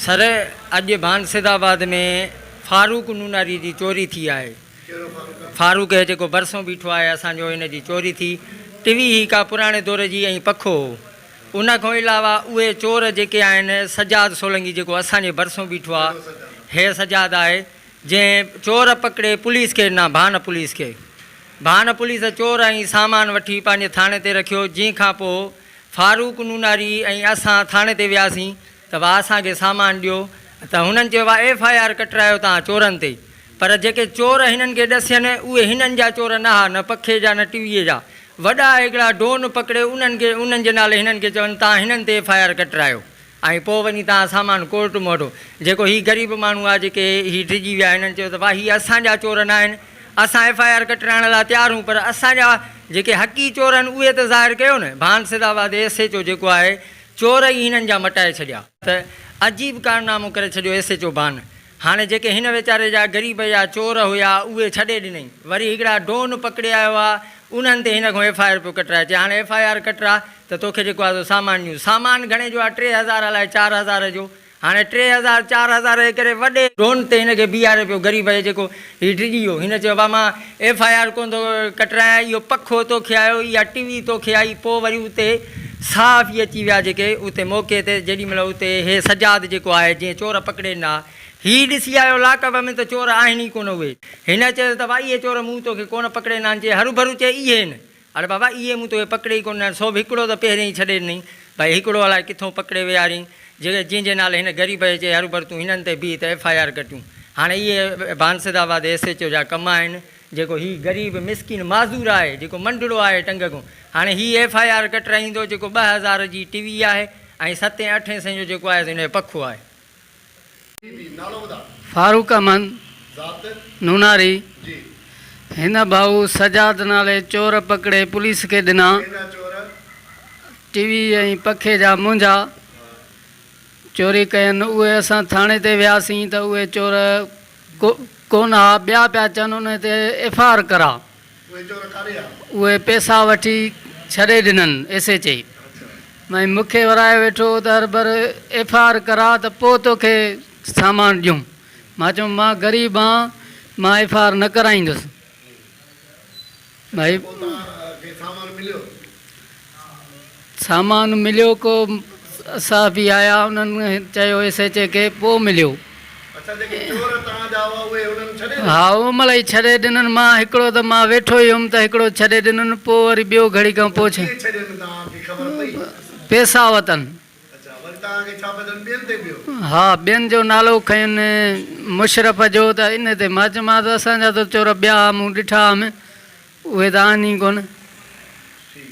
سر اڄ بانسد آباد ۾ فاروق نوناري جي چوري ٿي آهي فاروق هي جيڪو ڀرسون بيٺو آهي اسان جو ان جي چوري ٿي ٽوي هي ڪا پراڻي دور جي ۽ پکو هو ان کان علاوه اهي چور جيڪي آهن سجاد سولنگي جيڪو اسان جي ڀرسون بيٺو آهي هي سجاد آهي جنهن چور پڪڙي پوليس کي ڏنا ڀان پوليس کي ڀان پوليس چور ۽ سامان وٺي پنهنجي ٿاڻي تي رکيو جنهن کان پوء فاروق نوناري ۽ اسان ٿاڻي تي وياسين ته وا اسان کي سامان ڏيو ته هنن چيو وا ايف آء آر ڪٽرايو تان چورن تي پر جيڪي چور هنن کي ڏسين اهي هنن جا چور نه ها نه پکي جا نه ٽويي جا وڏا هڪڙا ڊون پڪڙي انهن کي انهن جي نالي هنن کي چون تان هنن تي ايف آء آر ڪٽرايو ۽ پوء وڃي تان سامان ڪورٽ موٽو. جيڪو هي غريب ماڻهو آ جيڪي هي ڊڄي ويا هنن چيو ته واه هي اسان جا چور ناهن اسان ايف آء آر ڪٽرائڻ لا تيار هون پر اسان جا جيڪي حقي چور هن اهي ته ظاهر ڪيو نه Bhan Saeedabad S H O جيڪو آهي چور ئي هنن جا مٽائي ڇڏيا. ته عجيب ڪارنامو ڪري ڇڏيو ايس ايچ او ڀان هاڻي جيڪي هن ويچاري جا غريب يا چور هيا اهي ڇڏي ڏنئي وري هڪڙا ڊون پڪڙي آيو آ انهن تي هن کان ايف آء آر پيو ڪٽرائي چي هاڻي ايف آء آر ڪٽرا ته توکي جيڪو آ سو سامان ڏيون سامان گهڻي جو آ ٽي هزار الائي چار هزار جو هاڻي ٽي هزار چار هزار جي ڪري وڏي ڊون تي هن کي بيهاري پيو غريب جيڪو هي ڊڄي ويو. هن چيو ابا مان ايف آء آر ڪونه ٿو ڪٽرايان، اهو پکو تو کي آيو، اها ٽي وي تو کي آئي، پوء وري اتي صحافي اچي ويا جيڪي اتي موقعي تي جيڏي مهل اتي هي سجاد جيڪو آهي جنهن چور پڪڙي ڏنا، هي ڏسي آيو لاڪ اپ ۾ ته چور آهن ئي ڪونه اهي. هن چيس ته ابا اهي چور مون تو کي ڪونه پڪڙي ڏنا، هن چيس هروڀرو چئي اهي هن اڙي بابا اهي مون توکي پڪڙي ئي ڪونه ڏنا، سو به هڪڙو ته پهرين ئي ڇڏي ڏنئي. ڀائي هڪڙو الائي ڪٿون پڪڙي ويهاريئي، جيڪي جنهن جي نالي هن غريب جي چئي هروڀرو تون هنن تي بيهه ته ايف آء آر ڪٽيون. هاڻي اهي بانسد آباد ايس ايڇ او جا ڪم آهن، جيڪو هي غريب مسڪين معذور آهي، جيڪو منڊڙو آهي ٽنگ کون. هاڻي هي ايف آء آر ڪٽرائيندو، جيڪو ٻه هزار جي ٽوي آهي ۽ ستين اٺين سين جو جيڪو آهيس هن جو پکو آهي. فاروق احمد نوناري هن ڀائو سجاد نالي چور پڪڙي پوليس کي ڏنا ٽي وي ۽ پکي جا مونجها چوري ڪين اهي اسان ٿاڻي تي وياسين ته اهي چور ڪو ڪونه ها ٻيا پيا چون انهي تي ايف آء آر ڪرا. اهي پئسا وٺي ڇڏي ڏنن ايس ايچ اي ۽ مون کي ورايو ويٺو ته هربر ايف آء آر ڪراء ته پوء توکي سامان ڏيون مان چيم مان غريب آهان مان ايف آء آر نه ڪرائيندس سامان مليو ڪو صحافي آيا انهن چيو ايس ايڇ اي کي پوء مليو. اڇا جيڪي چور توهان جا هئا اهي انهن ڇڏي ڏنا. ها او ملئي ڇڏي ڏنن مان هڪڙو ته مان ويٺو ئي هيم ته هڪڙو ڇڏي ڏنن پوء وري ٻيو گهڙي کان پوء ڇا. ڪيئن ڇڏي ڏنن توهان کي خبر پئي. پيسا وتن. اڇا وري توهان کي ڇا بدل ٻين تي ٻيو. ها ٻين جو نالو کنين مشرف جو ته ان تي مان چيومانس اسان جا ته چور ٻيا مون ڏٺا هئم اهي ته آهن ئي ڪونه. ٺيڪ.